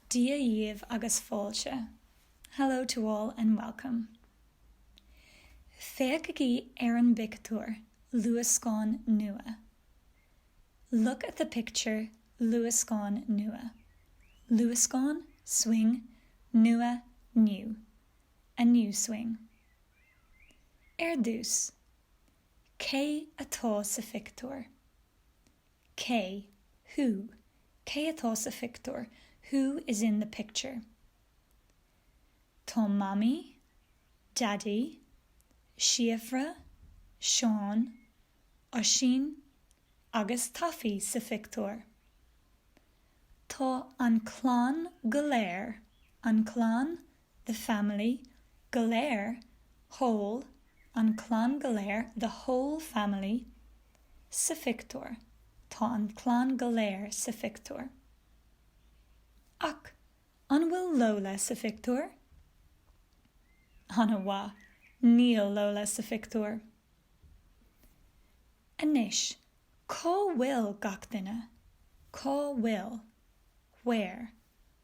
Dia dhaoibh agus fáilte, Hello to all and welcome. Féachaigí ar an bpictiúr, luascán nua. Look at the picture, luascán nua. Luascán, swing, nua, new. A new swing. Ar dtús, Cé atá sa phictiúr? Cé, who, Cé atá sa phictiúr? Who is in the picture? Tá Mamaí, Daidí, Síofra, Seán, Oisín agus Taffy sa phictiúr. Tá an clann go léir, an clann the family, go léir, whole, an clann go léir, the whole family, sa phictiúr, tá an clann go léir sa phictiúr. Ach an bhfuil Lola sa phictiúr? An-mhaith, níl Lola sa phictiúr. Anois, cá bhfuil gach duine? Cá bhfuil? Where?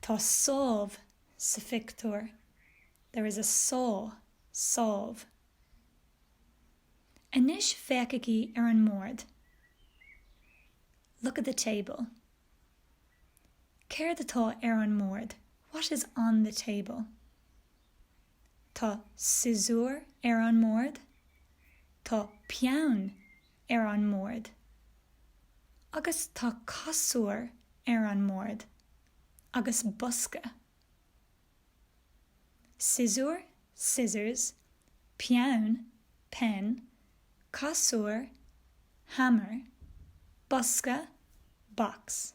Tá sábh sa phictiúr. There is a saw, sábh. Anois féachaigí ar an mbord. Look at the table. Céard atá ar an mbord? What is on the table? Tá siosúr ar an mbord. Tá peann ar an mbord. Agus tá casúr ar an mbord. Agus bosca. Siosúr, scissors, Peann, pen, Casúr, hammer, Bosca, box.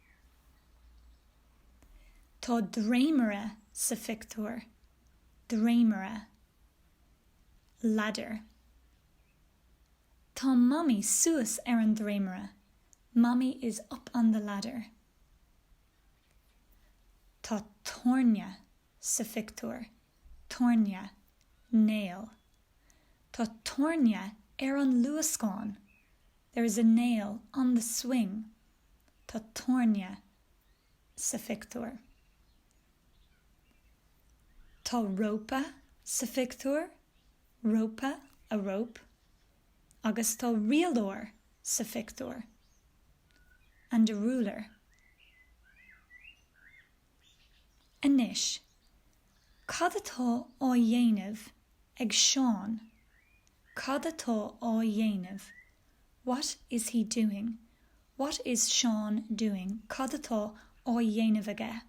Tá dréimire sa phictiúr. Dréimire. Ladder. Tá Mamaí suas ar an dréimire. Mommy is up on the ladder. Tá tairne sa phictiúr. Tairne. Nail. Tá tairne ar an luascán. There is a nail on the swing. Tá tairne sa phictiúr. Tá rópa sa phictiúr, rópa, a rope, agus tá rialóir sa phictiúr, and a ruler. Anois, cad atá á dhéanamh ag Seán? Cad atá á dhéanamh? What is he doing? What is Seán doing? Cad atá á dhéanamh aige?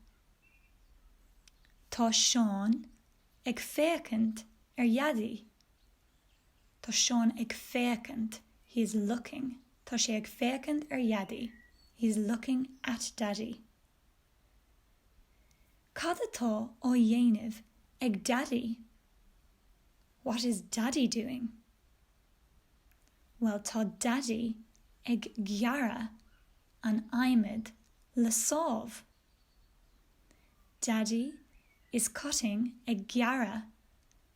Tá Seán ag féachaint ar Dhaidí. Tá Seán ag féachaint. He is looking. Tá sé ag féachaint ar Dhaidí. He is looking at Daddy. Cad atá á dhéanamh ag Daidí? What is Daddy doing? Bhuel, tá Daidí ag gearradh an adhmaid le sábh. Daddy is cutting ag gearradh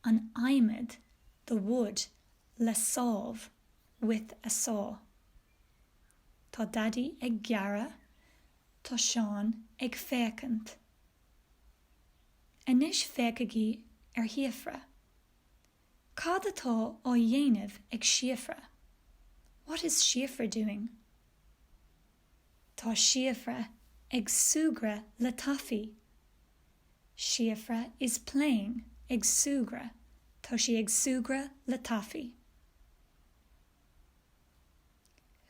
an adhmaid the wood le sábh with a saw. Tá Daidí ag gearradh Tá Seán ag féachaint. Anois féachaigí ar Shíofra. Cad atá á dhéanamh ag Síofra? What is Síofra doing? Tá Síofra ag súgradh le Taifí. Síofra is playing ag súgradh Tá sí ag súgradh le Taifí.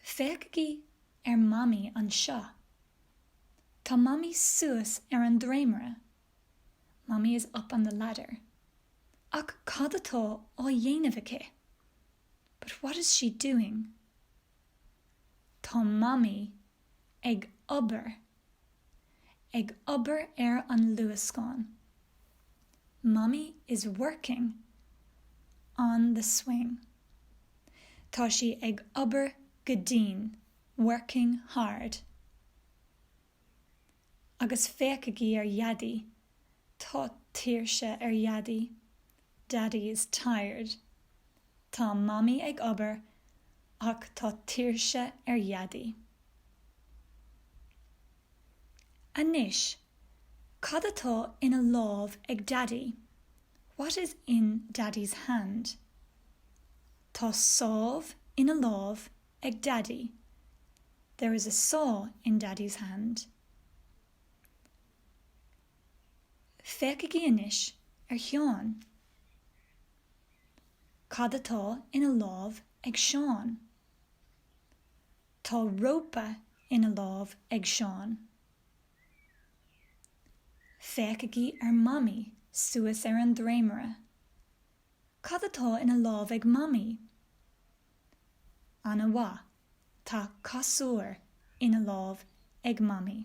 Féachaigí ar Mamaí anseo. Tá Mamaí suas ar an dréimire. Mammy is up on the ladder. Ach cad atá á dhéanamh aici? But what is she doing? Tá Mamaí ag obair, ag obair ar an luascán. Mammy is working on the swing. Tá sí ag obair go dian, working hard. Agus féachaigí ar Dhaidí, tá tuirse ar Dhaidí. Daddy is tired. Tá Mamaí ag obair ach tá tuirse ar Dhaidí. Anois, cad atá ina lámh ag Daidí? What is in Daddy's hand? Tá sábh ina lámh ag Daidí. There is a saw in Daddy's hand. Féachaigí anois ar Sheán. Cad atá ina lámh ag Seán? Tá rópa ina lámh ag Seán. Féachaigí ar Mamaí suas ar an dréimire. Cad atá ina lámh ag Mamaí? An-mhaith, tá casúr ina lámh ag Mamaí.